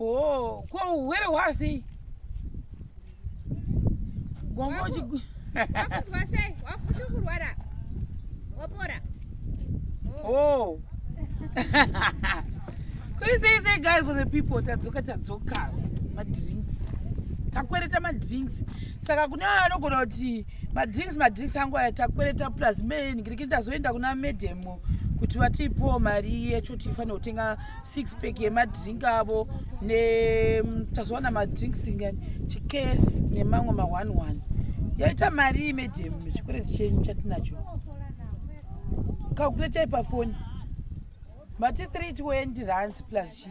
Oh, kwa uwere wasi. Gongo chi. Wakuzwa sei? Wakuti kurwara. Wapora. Oh. oh. Kuri sei sei guys for the people tadzoka tadzoka. Ma drinks. Takwereta ma drinks. Saka kune anogona kuti ma drinks ma drinks angu aya takwereta plus me ngirikita zoenda kuna madam kuti vatipo mari yecho tifanira kutenga six pack yemadrink avo netazowana madrinks ngani chikes nemamwe ma one one yaita mari medium chikwereti chenyu chatinacho kakuletai pafoni mati 320 rands plus chii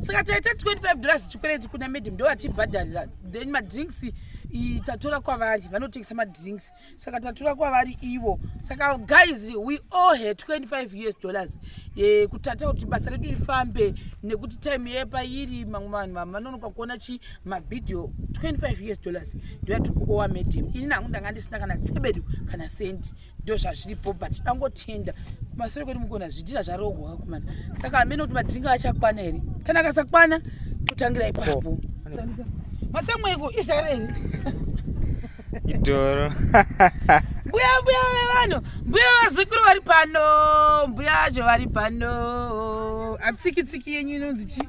saka taita 25 dollars chikwereti kuna madam ndovatibhadharira then madrinks tatora kwavari vanotengesa madrinks saka tatora kwavari ivo saka guys we all had 25 us dollars e, kutata kuti basa redu rifambe nekuti time yepa iri mamwe vanhu vanonoka kuona chii mavideo 25 years dollars ndoyati kuowa medium ini nangu ndanga ndisina kana tsebedu kana sendi ndo zvazviripo but dangotenda kumasure kwedu mukona zvidhira zvarohwa kumana saka amene kuti madhinga achakwana here kana akasakwana totangira ipapo matsamweko izvareni idoro mbuya mbuya vevanhu mbuya vazukuru vari pano mbuya zvo vari pano atsiki tsiki yenyu inonzi chii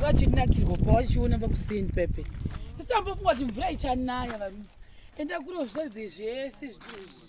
vachinakirwa pa vachiona vakuseni pepe isitambofunga kuti mvura ichanaya varume enda kuro zvedze zvese zviizvi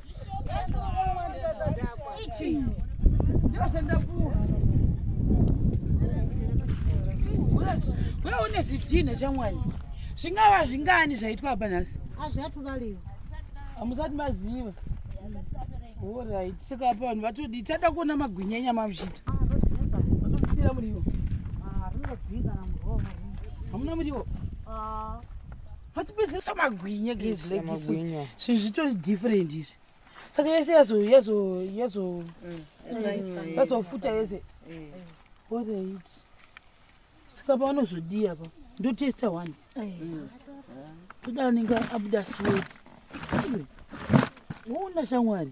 Wewe une zvidhina chamwani zvingava zvingani zvaitwa apa nhasi azviatuvaliwa hamusati maziva orit saka apa vanhu vatodii tada kuona magwinya enyama muzvita vatomusira muriwo hamuna muriwo matipedze samagwinya guys like this Samagwinya. zvinhu zvitori different izvi saka yese yazo yazo yazo yazofuta yese what are it saka paanozodii apa ndotesta one toda anenge abuda sweat uona shamwari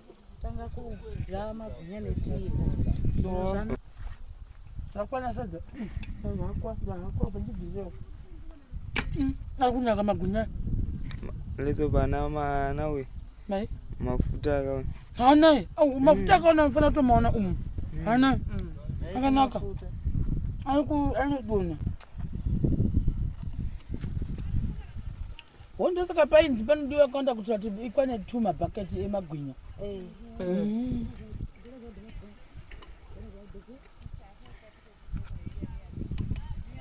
tanga kudya magwinya netii zvakwana sadza zvakwa zvakwa bendibhizewo ari kunaka magwinya lezo bana mana uye mai mafuta akaona haanaye au mafuta akaona mfana kutomaona umu haanaye akanaka anodona hondo saka painzi panodiwa kawanda kuitira kuti ikwane two mabhaketi emagwinya eh. mm.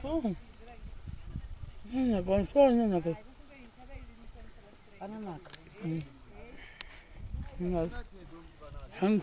oh. ananaka ananaka mm. hangu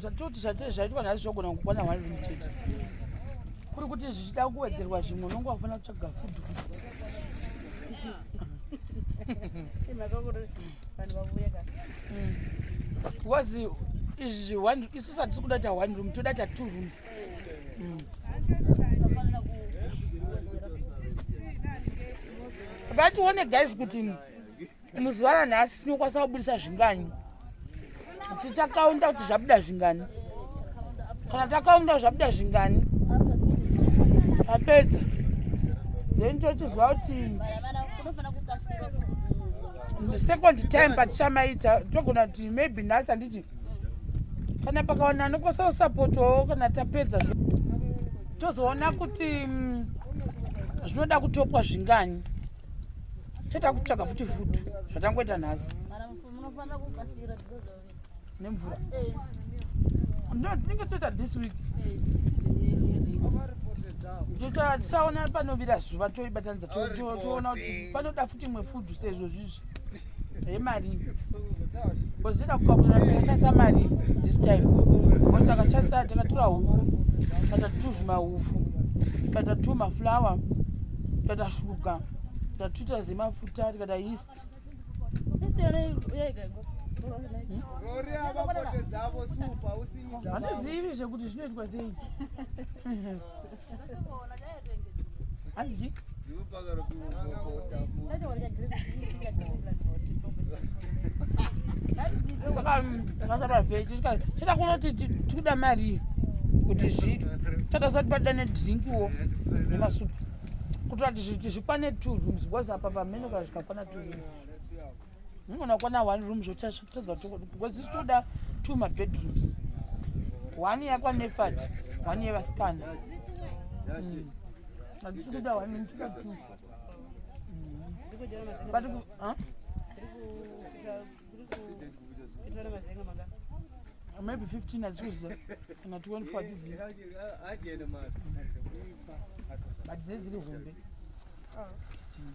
zvatoti zvatee zvaitwa nhasi zvogona kukwana one room chete kuri kuti zvichida kuwedzerwa zvimwe unonge wakufanira kutsvaga fudhu because izvi isu satisi kuda ta one room toda ta two rooms mm. ngatione guys kuti mm. Muzuva ranhasi tinokwanisa kubudisa zvingani? Tichakaunda kuti zvabuda zvingani? Kana takaunda zvabuda zvingani? Tapedza. Then tochiziva kuti the second time patichamaita togona kuti maybe nhasi handiti kana pakawana anokwasawo sapotowo kana tapedza tozoona kuti mm, zvinoda kutopwa zvingani Teta kutsvaga futi food zvatangoita nhasi. Mara munofanira kukasira because of it. Nemvura. Eh. No, tinenge toita this week. Eh, Teta tisaona panovira zuva toibatanidza toona kuti panoda futi imwe food sezvo zvizvi. yemari kozvida kukakurira takashandisa mari this time ko takashandisa takatura huku tata tuzvima hufu tata tu maflower tata shuga tatuita zemafuta tikata yeast handizivi zvekuti zvinoitwa sei chatakunoti tikuda mari kuti zviitwe chatasati padane drinkiwo nemasupa kutoati zvikwane two rooms because apa pamenoka zvikakwana two rooms Unogona kuona one room zvotadza kuti because isi toda two mabedrooms one yakwanefat one yevasikana hmm. handisi kuda one ndikuda two hmm. but maybe 15 achiuza kana 24 achizivi but dzei dziri hombe ah. hmm.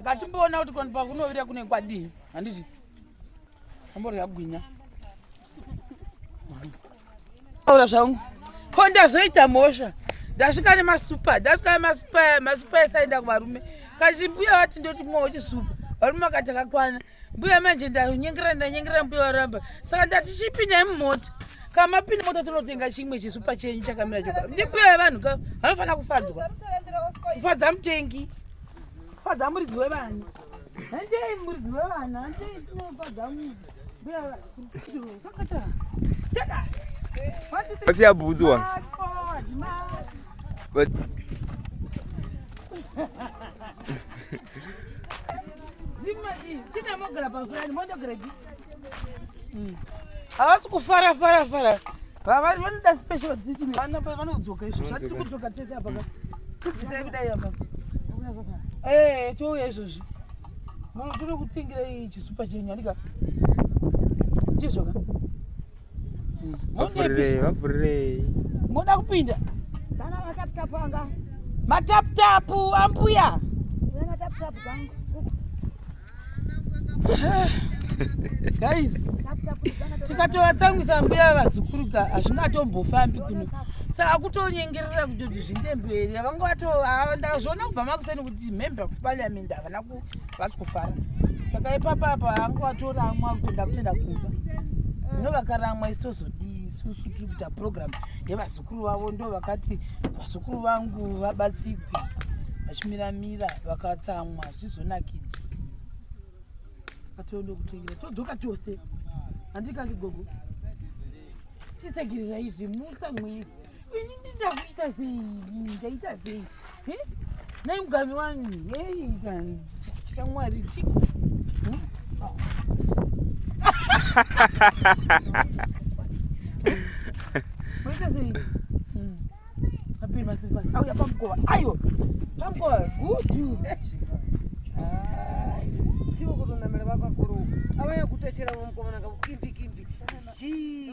ngatimboona kuti kwanpa kunovira kune kwadii handiti amborya gwinya aura zvangu ko ndazoita mhosva ndasvika nemasupa ndasvika nemasupa masupa esaenda kuvarume kachimbuya vati ndoti mwowo chisupa varume vakati akakwana mbuya manje ndanyengera ndanyengera mbuya waramba saka ndati chipindai mumota kamapinda mota tinotenga chimwe chisupa chenyu chakamira choka ndimbuya yevanhu ka vanofanira kufadzwa kufadza mutengi kufadza muridzi wevanhu handei muridzi wevana handei tinofadza mbuya sakata chaka vasiya bhutsu wa Hmm. havasi kufara fara fara vavari vanoda special dziti vanodzoka izvo zvatiri kudzoka tese apa ka tibvisai kudai apa ee touya izvozvi munhu tiri kutengerei chisupa chenyu andika chizvoka Vafurirei, vafurirei. Moda kupinda? Kana matap tap anga. Matap tap ambuya. Kana tap tap zangu. Guys, tikatovatsangwisa mbuya vazukuru ka hazvina atombofambi kuno saka akutonyengerera kuti kuti zvinde mberi vakanga vato ndazviona kubva makuseni kuti member kuparliament havana ku vasi kufara saka ipapa apa anga watoramwa kutoda kutoenda kumba no vakaramwa isi tozodii isusu tiri kuita program yevazukuru vavo ndo vakati vazukuru vangu vabatsigwe vachimiramira vakatsamwa zvizonakidzi atondo kutengera todzoka tose handikazi gogo tisegirira izvi mutsamwei ini ndindakuita sei ndaita sei Nei mugami wangu hei shamwari chiko moita sei apiri masiri pasi auya pamukova ayo pamukova gudu tiwo kutonamira vakakuru avaya kutachera vamukomana kakukimbikimbi zii